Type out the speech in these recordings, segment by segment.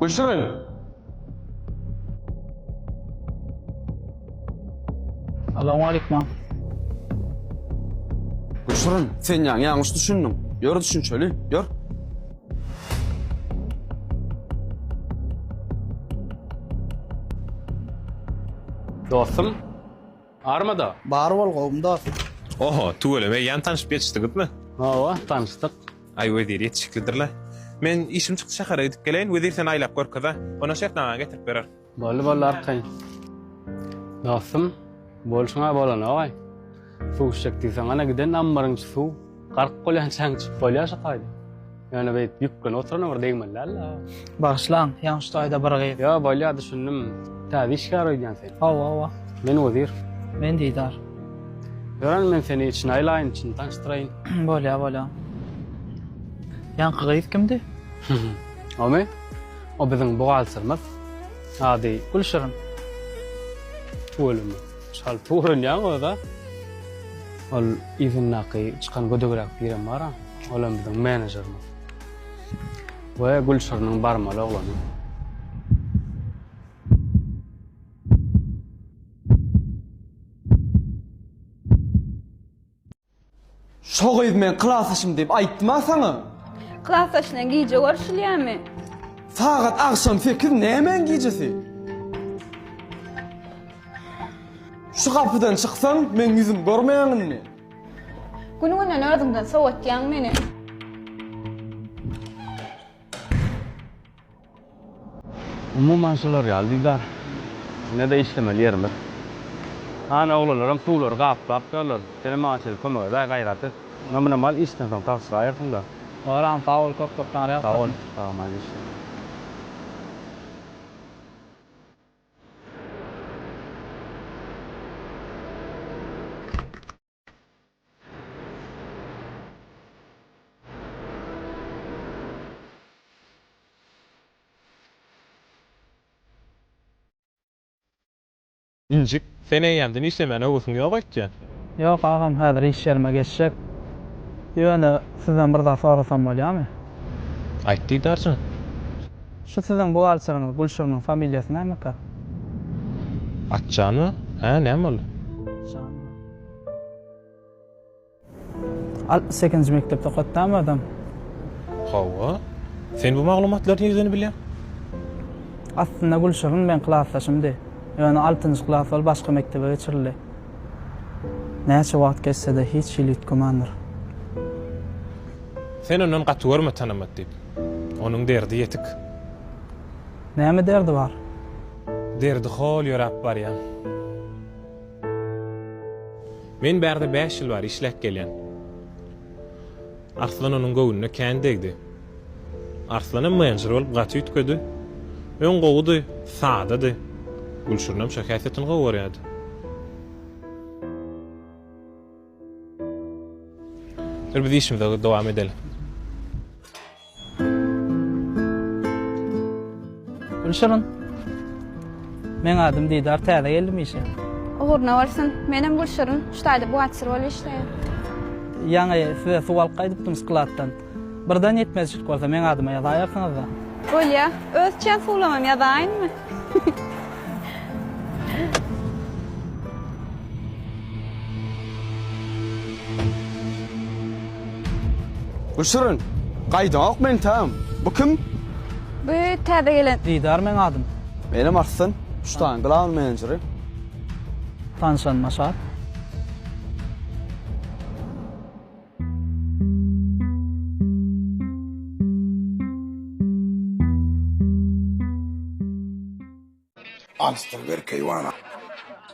Göçüriň! Salowmaleýkum. Göçüriň! Sen ýaňy ýalňyş düşündiň. Ýör düşünjeli, ýör! Dostum. Armada. Bar bol gowmy dost. Oho, tüweleme ýan tanyşyp ýetişdiňizmi? Hawa, tanyşdyk. Aý wezir ýetişiklidirle. Men işim çykdy şähere gidip geleýin, wezir seni aýlap görkeze. Ondan şertnamaňy getirip berer. Boldy boldy arkaýyn. Dostum, bolşuňa bolanaogaý. Suw içjek diýseň ana giden ammaryň içi suw. Gark bolýançaň çykyp bolýar şo taýda. Ýöne beýt ýüklenip oturana bir degmeli däl la. Bagyşlaň, ýaňy şu taýda bir gyz. Ýa bolýar düşündim. Täze işgär öýdýän sen. Hawa, hawa. Men Wezir. Men Didar. Ýören men seni içine aýlaýyn, içini tanyşdyraýyn. Bolýar, bolýar. Ýaňky gyz kimdi? Omy? O biziň buhgalterimiz. Ady Gülşirin. Tüweleme. Çalt öwrenýäň öz-ä. Ol yzyndaky çykan gödegräk birem bar-a, olam biziň menejerimiz. We Gülşiriniň barmaly oglany. Şo gyz meň klasdaşym diýip aýtdyma saňa? Klasdaş bilen gije görşülýärmi? Sagat agşam sekiz nämäň gijesi? Şu gapydan çyksaň, meň ýüzüm görmeýäň indi. Gün-günden özüňden sowatýaň meni. Umuman şular ýaly Didar. Ine-de işlemeli ýerimiz. Hany oglalaram suwlary gaplap durlar. Senem maňa çenli kömek edäý gaýraty. Namuna mal işden soň tabşyraýersiň-da. Bagram sag bol köp köp sany ýalkasyn. Sag bol sag maý işler. Injik, sen eýýämden işlemäne höwesiň ýok öýtýän? Ýok agam, häzir iş ýerime geçjek. Ýöne sizden bir zat sorasam bolýamy? Aýt Didarjan. Şu siziň buhgalteriňiz Gülşiriniň familiýasy nämeka? Atjan-a? Hä, näme boldy? Atjan. Altmyş sekizinji mekdepde okatdamy adam? Hawa. Sen bu maglumatlary nirden bilýäň? Aslynda Gülşirin meň klasdaşymdy. Ýöne altynjy klas bolup başga mekdebe geçirildi. Näçe wagt geçse-de hiç hili üýtgemandir. Sen ondan gaty görme tanamat diýip. Onuň derdi ýetik. Näme derdi bar? Derdi hol ýöräp barýan. Men bärde bäş ýyl bäri işläp gelýän. Arslan onuň göwnüne kän degdi. Arslanam menjer bolup gaty üýtgedi. Öň gowudy, sadady. Gülşirinem şo häsiýetini gowy görýärdi. Bir biz işimize dowam edeli. Gülşirin. Meň adym Didar, täze geldim işe. Ugruna bolsun. Menem Gülşirin, ştaýda buhgalter bolup işleýän. Ýaňy size suw alyp gaýdypdym skladdan. Birden ýetmezçilik bolsa meň adyma ýazaýarsyňyz-da. Bolýa. Öz içýän suwlamam ýazaýynmy? Bu şirin. Gaýdaňok men tam. Bu kim? Bu täze gelen. Didar meň adym. Menem Arslan. Şutanyň glawn menejeri. Tanşanyma şat. Alysdan bir keýwana.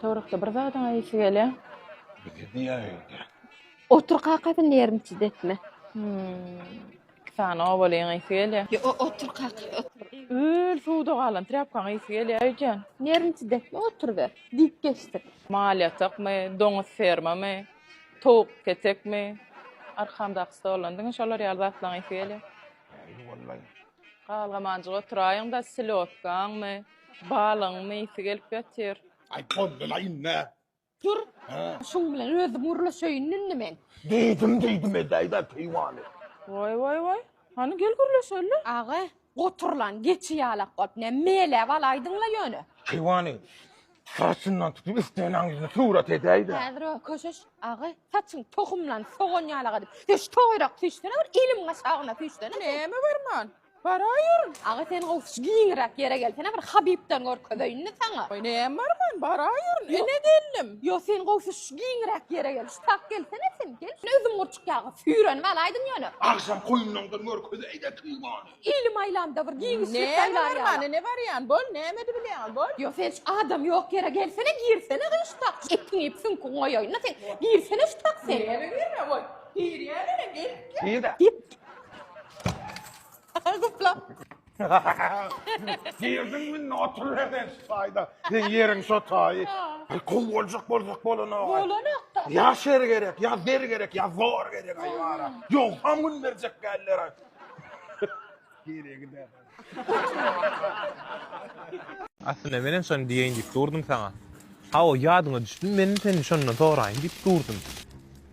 Towrakda bir zadyň aýasy gelýä. Bizi diýäýdi. Otur kakasy nerwniçi depme. Iki sany obalyň aýasy gelýä. Ýo o otur kaka otur. Öl suwda galan trýapkaň aýasy gelýä aýjan. Nerwniçi depme otur ber. Diýip geçdik. Mal ýatakmy, doňuz fermamy? Towuk petekmi, arkamdaky stoldan diňe şolar ýaly zatlaň ysy gelýär. Ýyly bolmaýyn. Galgamanjyk oturaýyň-da, slýodkaňmy, balygyňmy ysy gelip ýatyr. Aý, boldy-la indi. Tur, şuň bilen özüm gürleşeýin indi men. Diýdim, diýdim edäý-dä keýwany. Woý, woý, woý. Hany gel gürleşeli. Aga, goturlan geçi ýalak bolup ne meläp alaýdyň-la ýöne. Keýwany saçyndan tutup islenäň ýüzüne surat edäý-de. Häzir o köşeş. Aga, saçyň tohumlan sogan ýalak edip, söş toýrak süýşsene bir eliň aşagyna süýşsene. Näme berman? Baraýeryn. Aga, sen gowşuş giňräk ýere gelsene bir Habibden görkezeýin-de saňa. Aý, näme berman, baraýeryn. Ene gelnim. Ýok, sen gowşuş giňräk ýere gel. Şu tak gelsene sen, gel. Özüň gur. Ýagy süýrenip alaýdyň ýöne. Agşam goýnuňdan görkezäýdä kim bony. Ilim aýlamda bir giňişlik saýlar ýaly. Näme ne barýan bol nämedi bilýäňiz bol. Ýok sen şu adam ýok ýere gelsene girsene gyň şu tak etin iýip süňkiň goýaýynda sen girsene şu tak sen. Näme girme bol girýä mene gel. Gir-de. Diýip. Gupla. Girdiň münde otur berden şu taýda. Sen ýeriň şo taýy. Aý gowy boljak bolsak bolanok. Bolanokda. Ya şer gerek, ya zer gerek, ya zor gerek ay bara. Yok ham gün berjek geller ay. Geriye gider. Aslynda menem şony diýeýin diýip durdum saňa. Hawa ýadyňa düşdüm, menem senden şondan soraýyn diýip durdum.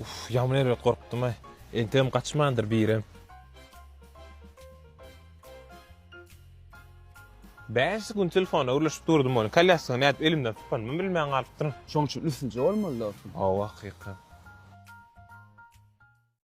Uff ýaman erbet gorkdumay. Entegem gaçmandyr birem. Bäş gün telefona gürleşip durdum ony. Kolýaska nädip elimden sypanymy bilmän galypdyryn. Şoň üçin üstünje bolmaly dostum. Hawa hakyka.